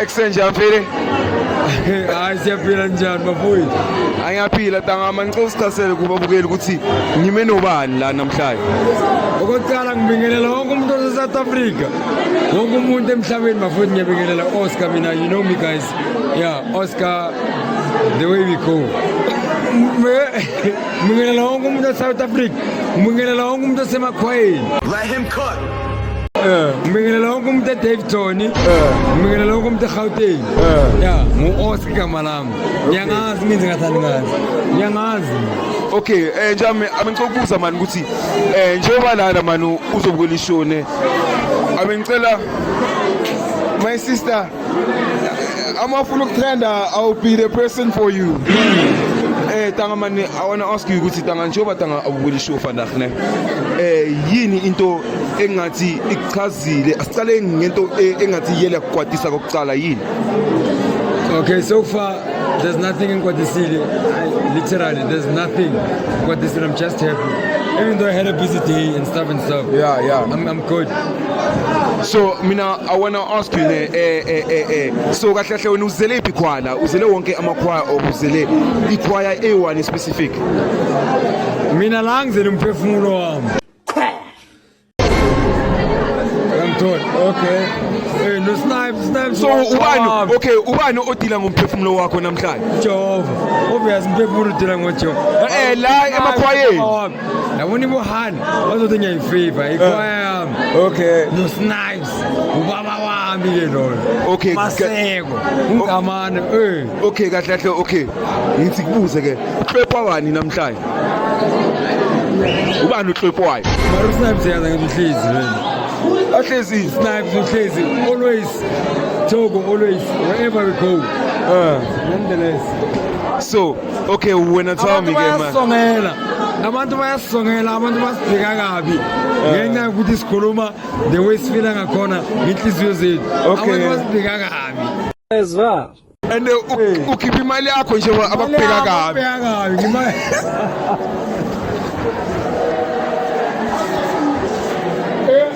Exchange I'm feeling. Hayi siyaphila njani bafowethu? Angiyaphila tanga manxa usichasele kubabukeli ukuthi ngime nobani la namhlanje. Okokuqala ngibingelela wonke umuntu ose South Africa. Wonke umuntu emhlabeni bafowethu ngiyabingelela Oscar mina you know me guys. Yeah, Oscar the way we go. Ngibingelela wonke umuntu e South Africa. Ngibingelela wonke umuntu osemakhwayeni. Let him cook. ngibingelela wonke umuntu edavton ngibingelela wonke umuntu egauteng ya ngu-oscar igama lami ngiyangazi mina ngingathandi ngazi ngiyangazi okay um njami abengicela ukubuza mani ukuthi um njengoba lana mani uzobukela ishone abengicela my sister I'm awful of tender. I'll be the person for you. Mm. Eh tanga mani I want to ask you ukuthi tanga njengoba tanga awubuli show vandag ne. Eh yini into engathi ichazile asiqale ngento e, engathi yele kwatisa kokuqala yini? Okay so far there's nothing in Kwadisile. Literally there's nothing. Kwadisile I'm just happy. Even though I had a busy day and stuff and stuff. Yeah yeah. I'm I'm good. so mina i wanna ask you ne eh eh eh eh so kahle kahle wena uzele iphi khwala uzele wonke amakhwaya okuzele ikhwaya e1 specific mina la ngizele umphefumulo wami ngiyamthola okay eh no snipe snipe so ubani okay ubani odila ngomphefumulo wakho namhlanje jehova obvious umphefumulo udila ngojehova eh la emakhwayeni ndabona ibohani bazothi ngiyayifavor eh. ikwayami okay nosnipes ubaba wami ke lona okay maseko ungamane eh okay kahle kahle okay ngithi kubuze ke uhlwepha wani namhlanje ubani uhlwephayo mara usnipes yaza ngimhlizi wena ahlezi snipes uhlezi always Togo always wherever we go uh, nonetheless so Okay, wena tell me ke manje. Bayasongela. Abantu bayasongela, abantu basibheka kabi. Ngenxa yokuthi sikhuluma the way sifila ngakhona ngenhliziyo zethu. Abantu basibheka kabi. Ezwa. And uh, ukhipha imali yakho nje abakubheka kabi. Abakubheka kabi. Imali.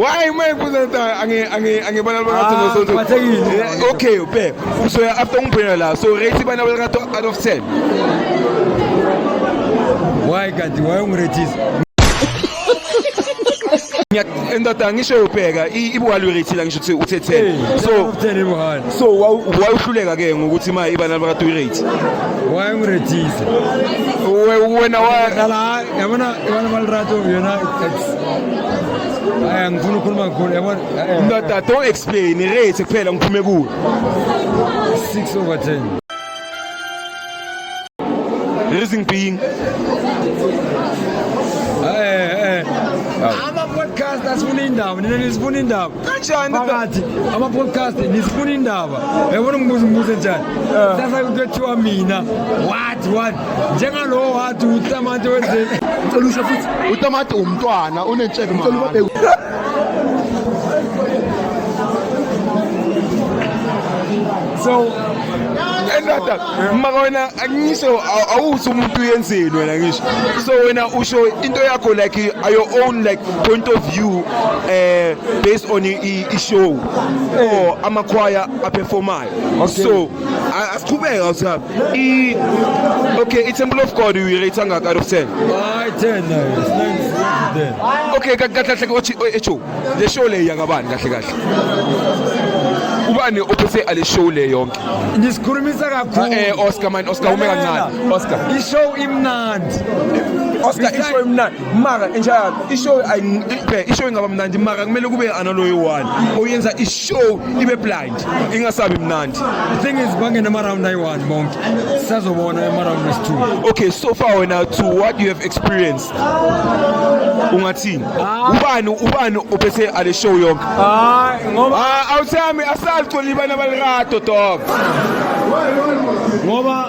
Why my presenter ange ange ange bana ba gato no so to. Eh, Okay, pe. So after un pena la, so rate bana ba gato out of 10. Why kanti why ungiretisa? endoda ngisho yobheka ibuhali werethila ngisho ukuthi uthe 10 so so wawuhluleka ke ngokuthi ma ibana baka toilet waye ngirethise wena wala yabona yabona malirato yona it's aya ngifuna ukukhuluma kakhulu yabona ndoda don't explain rate kuphela ngiphume kuwe 6 over 10 Rising being. Eh eh. Ama podcast asifuna indaba, nina nisifuna indaba. Kanjani phakathi? Ama podcast nisifuna indaba. Yabona ngibuza umbuzo njani? Eh. Sasa kuthiwa mina. What what? Njengalo wathi utamati wenzeni? Ngicela usho futhi utamati umntwana unentshebe mama. so endada maka wena angisho awuthi umuntu uyenzeni wena ngisho so wena usho into yakho like your own like point of view eh based on i show or amakhwaya aperformayo so asiqhubeke awusihamba i okay i-temple of god uyirate angaka out of 10 hayi 10 nayo okay kahle kahle othi echo le show le yakabani kahle kahle ubani ophethe ale show le yonke ngisikhulumisa kakhulu eh, eh Oscar man Oscar ume kancane Oscar i show imnandi Oscar i show imnandi mara enjalo i show i show ingaba mnandi mara kumele kube analoyi one oyenza i show ibe blind ingasabi mnandi the thing is bangena ama-round ayi-one bonke sisazobona ama-round wesi-two okay so far wena to what you have experienced ungathini ah. ubani ubani ophethe ale show yonke hayi ngoba ah, awuthami asalicoli bana balirado dog ngoba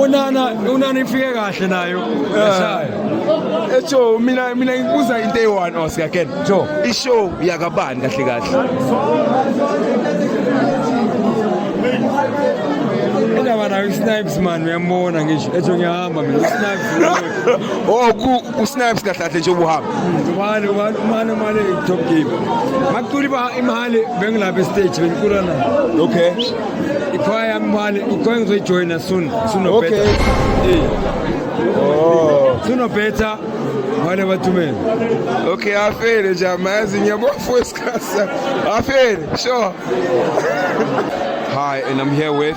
unana unana ifike kahle nayo esayo ejo mina mina ngibuza into eyi-one oscar ken jo ishow yakabani kahle kahle indaba nayo usnipes mani uyambona ngisho ejo ngiyahamba mina usnipes oh ku- usnipes kahle kahle nje ubuhamba Umane umane umane umane top game. Makuli ba imali bengla be stage benkula na. Okay. Ikhaya imali ikhaya ngizoyi join soon. Soon no okay. better. Okay. Oh. Soon no better. Wale batume. Okay, afere jamaa zinyabo force kasa. Afere, sure. Hi, and I'm here with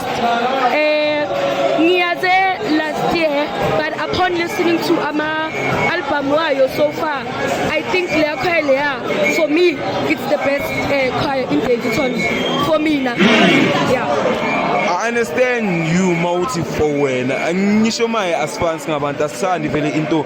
Eh, ngiyaze last year but upon listening to ama album wayo so far i think leya choir leya for me it's the best uh, choir in Daveyton for me na yeah I understand you mawuthi for wena angisho maye asifani singabantu asithandi vele into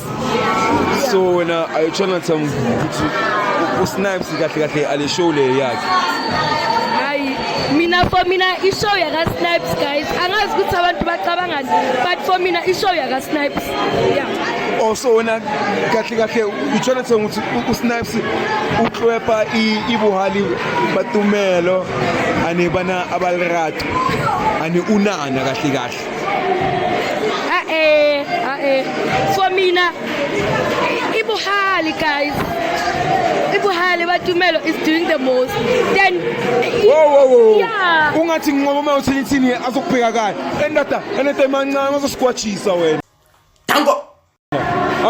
so wena are you trying to tell me ukuthi usnipes kahle kahle ale show le yakhe hayi mina for mina ishow yakasnipes guys angazi ukuthi abantu bacabangani but for mina ishow yakasnipes yeah also oh, wena kahle kahle utshona thenga ukuthi usnipes uklwepa ibuhali batumelo anebana abalirato ane unana kahle kahle ae ae for mina ibuhali guys ibuhali batumelo is doing the most then ungathi nginqoba uma uthini thini azokubheka kahle endada enento emancane azosigwajisa wena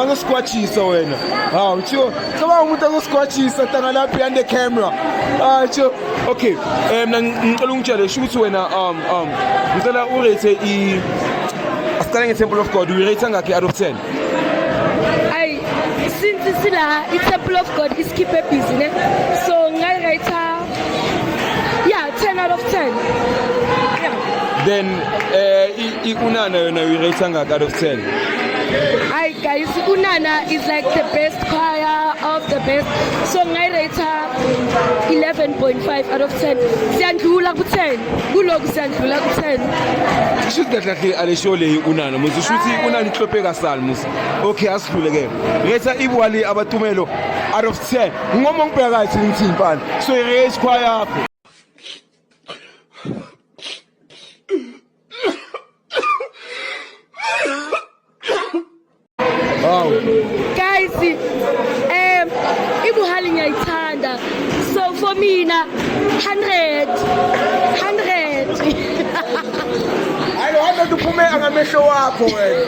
angosikwatshisa wena hawu tsho cabanga umuntu angosikwatshisa tangalapha behind the camera hawu tsho okay um mna ngicela ungitshele sho ukuthi wena um um ngicela urate i asiqale nge-temple of god uyirate angakhi out of ten ayi since sila i-temple of god isikhiphe ebhizi ne so ngayirayitha Yeah, 10 out of 10. Yeah. Then uh, ikunana yona uyirate angaka out of 10? Hi guys, Unana is like the best choir of the best. So I rate her 11.5 out of 10. Siyandlula ku 10. Kuloko siyandlula ku 10. Shuthi kahle kahle alesho le Unana. Muzi shuthi Unana ihlophe kasali muzi. Okay, asidlule ke. Rate ibwali abatumelo out of Sir, ngoma ngibheka kathi ngithi mfana. So raise choir yakho. Wow. Guys, um ibuhali ngiyayithanda. So for mina 100 100. Hayi, hayi uphume angamehlo wakho wena.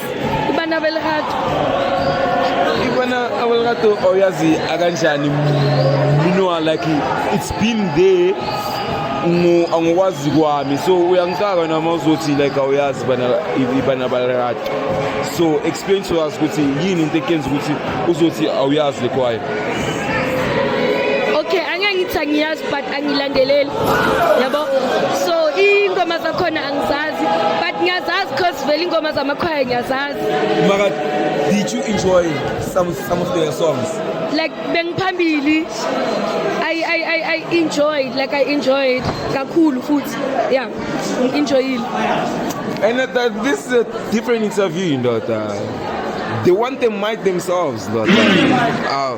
Ibana Abelrato. Ibana Abelrato oyazi oh, akanjani minoa like it's been there angikwazi kwami so uyangicaka noma uzothi like awuyazi ibana balirati so explain to us ukuthi yini into ekenza ukuthi uzothi awuyazi le kwayo okay angeke ngithi angiyazi but angilandeleli yabo so iy'ngoma zakhona angizazi but ngiyazazi cause vele iy'ngoma zamakhwaya ngiyazazi maka did you enjoy some, some of their songs like bengiphambili I, I, I, I enjoyed like I enjoyed kakhulu futhi yeah enjoyile and that, that, this is a different interview ndoda they want to might themselves ndoda uh,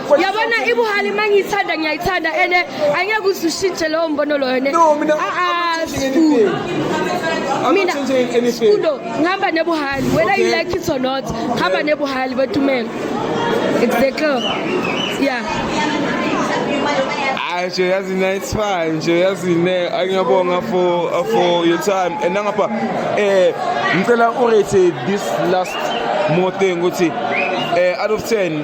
yabona ibuhali uma ngiyithanda ngiyayithanda and angeke uze ushintshe lowo mbono loyo ne No, mina- Ah, ah, I'm not changing Sbu. anything. I'm mina not changing anything. skudo ngihamba nebuhali whether you Okay. like it or not ngihamba nebuhali batumela exactly yeah Ay, nje yazi na it's fine nje yazi ne angiyabonga for uh, for your time and nangapha eh ngicela urate this last more thing ukuthi eh out of 10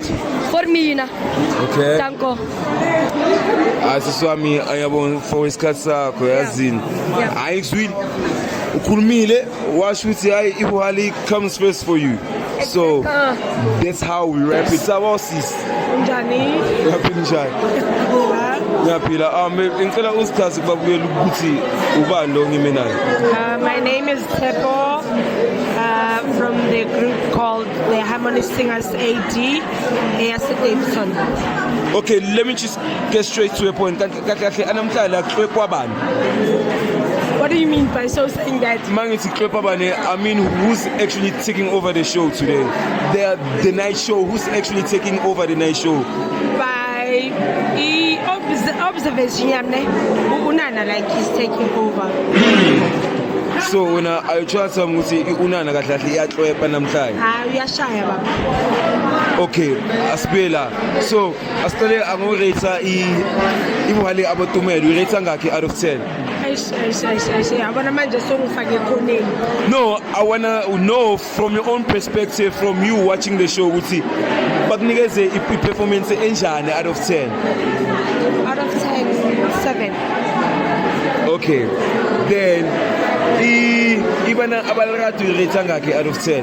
For me, Yina. Okay. Danko. Asisi wami ayabona for isikhathi sakho yazini. Hayi ngizwile. Ukhulumile washo ukuthi hayi ibuhali comes first for you. So uh. that's how we wrap it. Sawa sis. Njani? Ngaphila njani? Ngiyaphila. Um ngicela usichaze kubabukela ukuthi ubani lo ngime naye. Uh, my name is Tepo uh, from the group called the Harmony Singers AD eyase Davidson. Okay, let me just get straight to the point. Kahle kahle anamhlala kuhlwekwa bani? What do you mean by so saying that? Mangithi kuhlwekwa bani? I mean who's actually taking over the show today? The the night show who's actually taking over the night show? By e observation yamne unana like he's taking over. so wena ayotshwatha ukuthi unana kahle kahle iyahlwepa namhlanje hayi shaya baba okay asibuye la so asiqale angorate i imali abotumela urate ngakhe out of 10 yabona manje songifake ekhoneni no i wanna know from your own perspective from you watching the show ukuthi bakunikeze i-performance enjani out of 10 out of 10 7 okay then ibana abalakade uyirate ngakhe out of 10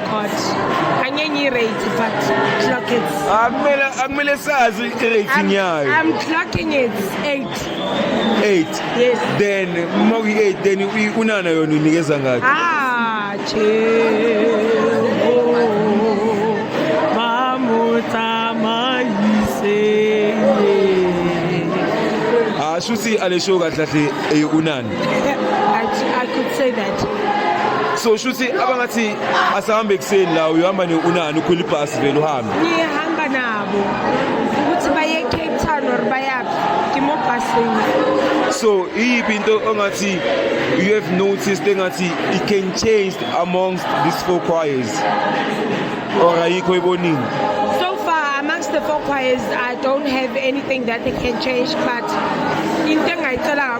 God. Angenye i-rate but clock it. Akumele akumele sazi i-rate nyayo. I'm clocking it 8. 8. Yes. Then uma uyi-8 then unana yona unikeza ngakho. Ah, Ashuthi alesho kahle kahle eyunani. I could say that. So shuthi abangathi asahambe ekuseni la uyohamba ne unani ukhwela ibhasi vele uhambe. Ngihamba nabo ukuthi baye Cape Town or bayaphi ngimo busini. So iyiphi into ongathi you have noticed engathi it can change amongst these four choirs. Or ayikho ibonini. So far amongst the four choirs I don't have anything that they can change but into engayicela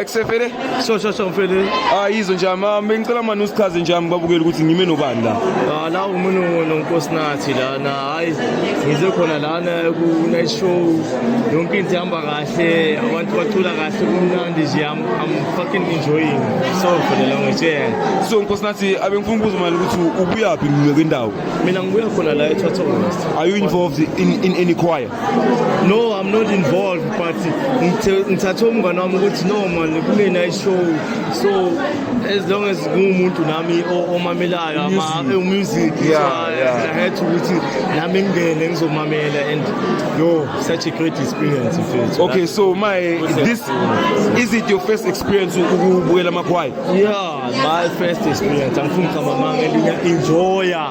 Ekusefele? So so so mfele. Ah yizo nje ama bengicela manje usichaze nje ami babukele ukuthi ngime nobani la. Ah la umuntu nonkosinathi lana hayi ngize khona lana ku night show yonke into ihamba kahle abantu bacula kahle kumnandi nje I'm, I'm fucking enjoying. So mfele la ngitshela. So nkosinathi abengifuna ukubuza manje ukuthi ubuyaphi kwendawo? Mina ngibuya khona la eThothong West. Are you involved in in any choir? no i'm not involved but ngithathe umngane wami ukuthi no man kunena ishow so as long as ngiwumuntu nami omamelayo umusic ahead ukuthi nami ngingene ngizomamela and yo such a great experience mfethu okay so my this is it your first experience ukubukela amakhwayi yeah my first experience angifuni ngiqamba amanga enjoya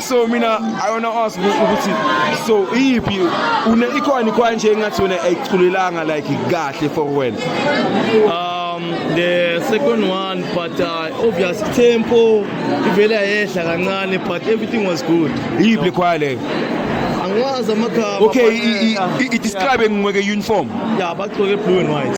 so mina i wanna ask ukuthi so iyiphi une ikhona ikhona nje engathi wena ayiculelanga like kahle for wena um the second one but uh, obvious tempo ivele yehla kancane but everything was good iyiphi ikhona leyo angiwazi amagama okay i-describe ngweke uniform ya bagcoke blue and white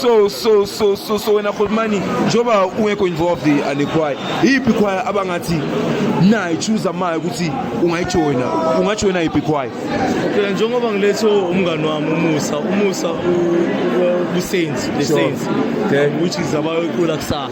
So so so so so wena Khulumani njoba ungekho involved ale choir iphi choir abangathi nayi choose amayo ukuthi ungayijoina ungajoina iphi choir Phela njengoba ngilethe umngani wami umusa umusa u- u- ubusenzi the Sure. sense Okay. which is abayocula kusasa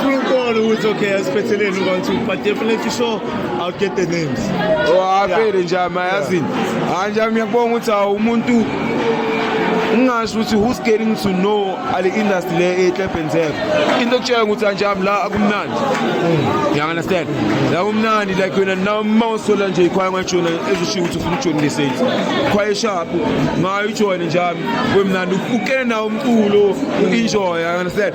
True call who is okay, especially in one two, but definitely sure I'll get the names. Oh, avele nje amayazini. Anje ngiyabonga ukuthi awumuntu ngingasho ukuthi who's getting to know ale industry le eklebhenzeka into okutshela ukuthi anjami la akumnandi you understand la kumnandi like wena noma usola nje ikhwaya ngajona ezishiya ukuthi ufuna ukujona le sales khwaya sharp ngayo ujone njami kwemnandi ukene nawo umculo enjoy you understand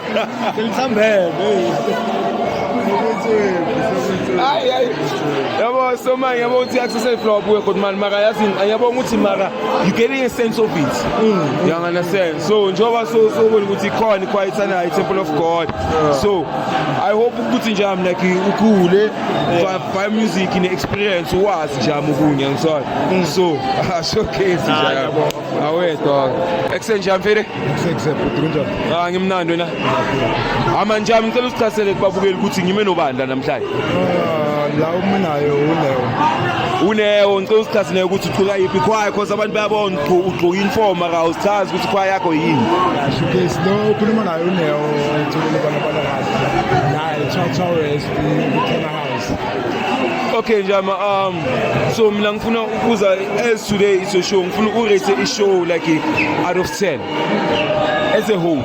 yabo so manje yabo ukuthi i-accessory flower buke kodwa mani maka yazi yabonga ukuthi maka you getting a sense of it mm. you understand so njengoba sobona ukuthi ikhona ikhwayithanayo i-temple of god so i hope ukuthi nje am like ukhule by music ne-experience wazi nje am okunye ngisona mm. so ashowcase nje awedwa ekuseni nje amfele Ah ngimnandi wena. Hama njami ngicela usichasele kubabukeli ukuthi ngime nobandla namhlanje. Ah, la uminayo unewo. Unewo ngicela usichasele ukuthi uqhuka yipi khwaya khosa abantu bayabona ugqoka uniform aka usichazi ukuthi khwaya yakho yini. Shukes lo ukhuluma naye unewo uthulele bana bana kahle. Naye cha cha wes uthena Okay njama um so mina ngifuna ukubuza as today is a show ngifuna ukurate i show like out of 10 as a whole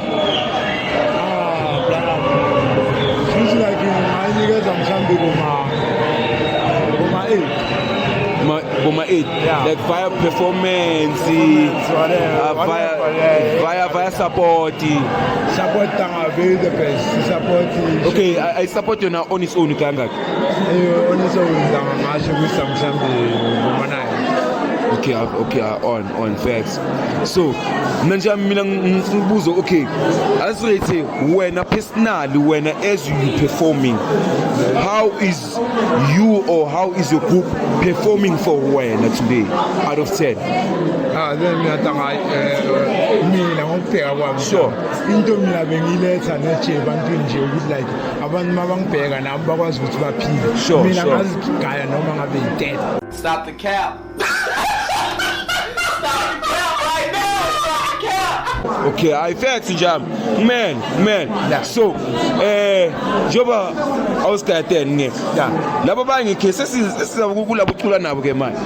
Boma 8 yeah. like via performance uh, via, via via support support Tangaville the best support okay I, I support you now on its own kangaki Eh, on its own ngizama ngasho ukuthi mhlawumbe ngivuma naye okay ah, okay ah, on on facts so mna nje mina ngifuna ukubuza okay asirate wena personally wena as you performing how is you or how is your group performing for wena today out of 10 ah then mina tanga eh, mina ngokubheka kwami Sure. into mina bengiletha neje ebantwini nje ukuthi like abantu mabangibheka nabo bakwazi ukuthi baphile Sure, mina sure. ngazigaya noma ngabe yi-dead Stop the cap. Stop the cap right now. Stop the cap. okay hayi facts nje ami man man Yeah. so eh njengoba awusigayateni ngeke Yeah. labo bangikhe sesizakulabo cula nabo ke manje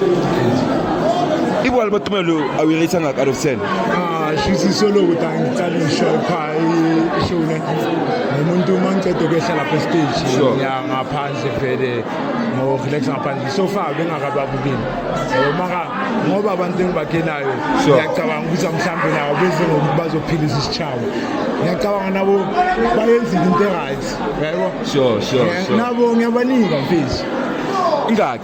ibona batumelo awuyireyitha ngaka out of 10 ah shisi solo ukuthi angicala isho pha ishune nomuntu uma ngiceda ukwehla lapha estage ya ngaphandle vele ngo-relax ngaphandle so far bengakababukeli maka ngoba abantu engibakhelayo ngiyacabanga ukuthi mhlawumbe nabo benze ngokuthi bazophilisa isitshaba ngiyacabanga nabo bayenzile into e-right yabo nabo ngiyabanika mfisi ingaki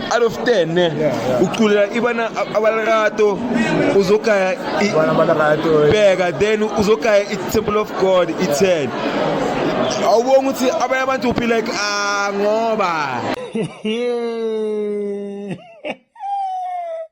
out of 10 ne yeah, yeah. uculela ibana abalakato uzogaya bheka then uzogaya i-temple of god i-10 yeah. awubonga ukuthi abanye abantu uphi like ah ngoba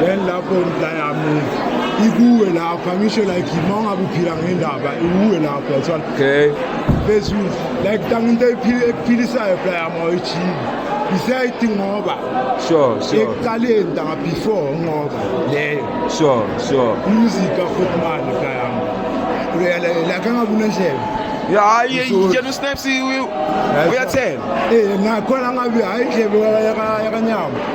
then lapho la yami ikuwe lapha ngisho like uma ungabe uphila ngendaba ikuwe lapha yathola okay phezulu like tanga into ekuphilisayo bla yami awuyijhibi isayithi ngoba sure sure ekuqaleni tanga before ngoba leyo sure sure music afuthi manje bla yami like angabe unendlela ya yena usnaps uyathela eh nakhona ngabe hayi indlebe yakanyama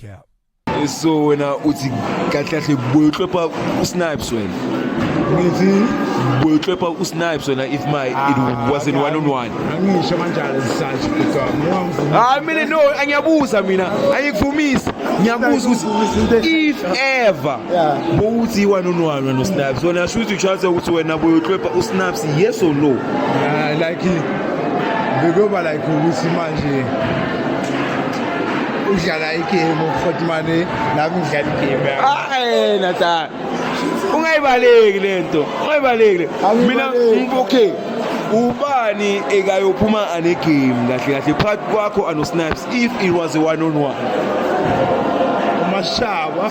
Cap. so wena uthi kahle kahle boyohlopha usnipes wena ngithi boyohlopha usnipes wena if my it wasn't one on one angisho kanjalo sisathi bhuti wami ngoba ngifuna hayi mina no angiyabuza mina angikuvumise ngiyabuza ukuthi if ever Yeah. bowuthi one on one wena usnipes wena shuthi uchaze ukuthi wena boyohlopha usnipes yes or no Ah, like bekuyoba like ukuthi manje udlala igame ufuthi mane nami ngidlala igame hayi nathan ungayibaleki lento ungayibaleki mina okay ubani ekayophuma anegame kahle kahle phakathi kwakho anosnipes if it was a one on one umashaba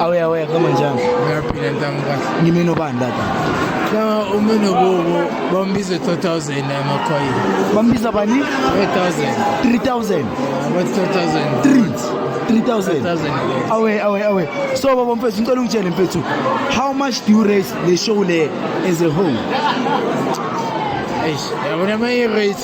Awuya waya kama njani? Ngiyaphila ntangu kahle. Ngimini obani lapha? Kama umini kubo bambize 2000 amakhoyi. Bambiza bani? 3000. 3000. What 3000? 3. 3000. Awe awe awe. So baba mfethu ngicela ungitshele mfethu how much do you raise the show le as a whole? Eish, yabona mayi rate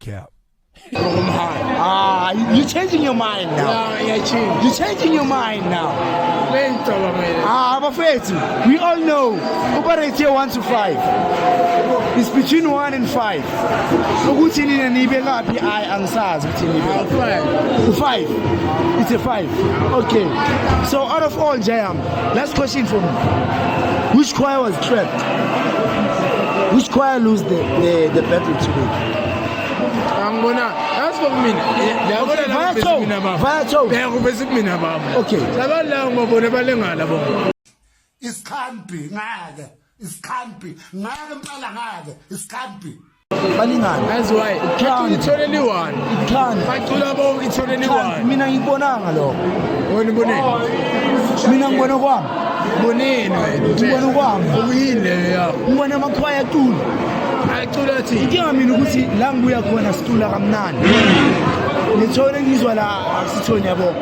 Cap. Ah, you- you're changing your mind now. Ah, iyachinja You're changing your mind now. leyicabangele Ah, bafethu, we all know ubarate 1 to 5. It's between 1 and 5. Ukuthi nina nibe ngaphi I angisazi ukuthi nibe ngaphi. awufani U5. It's a 5. Okay. So out of all Jayam Last question for me. Which choir was trapped? Which choir lose the, the, the battle today? Angibona for mina. Yabona la kubese mina baba. Vatho. Bheka kubese mina baba. Okay. Labantu la ngibabona balengala bona. Isikhambi ngeke. isikhambi ngeke mqala ngake isikhambi balingane that's why uthanda ithole liwani uthanda bacula bonke ithole liwani mina ngikubonanga lokho wena uboneni mina ngibona kwami bonini wena ngibona kwami ubuyini leyo yakho ngibona amakhwaya acula acula thi inkinga mina ukuthi la ngibuya khona sicula kamnandi ngithole ngizwa la akusithoni yabo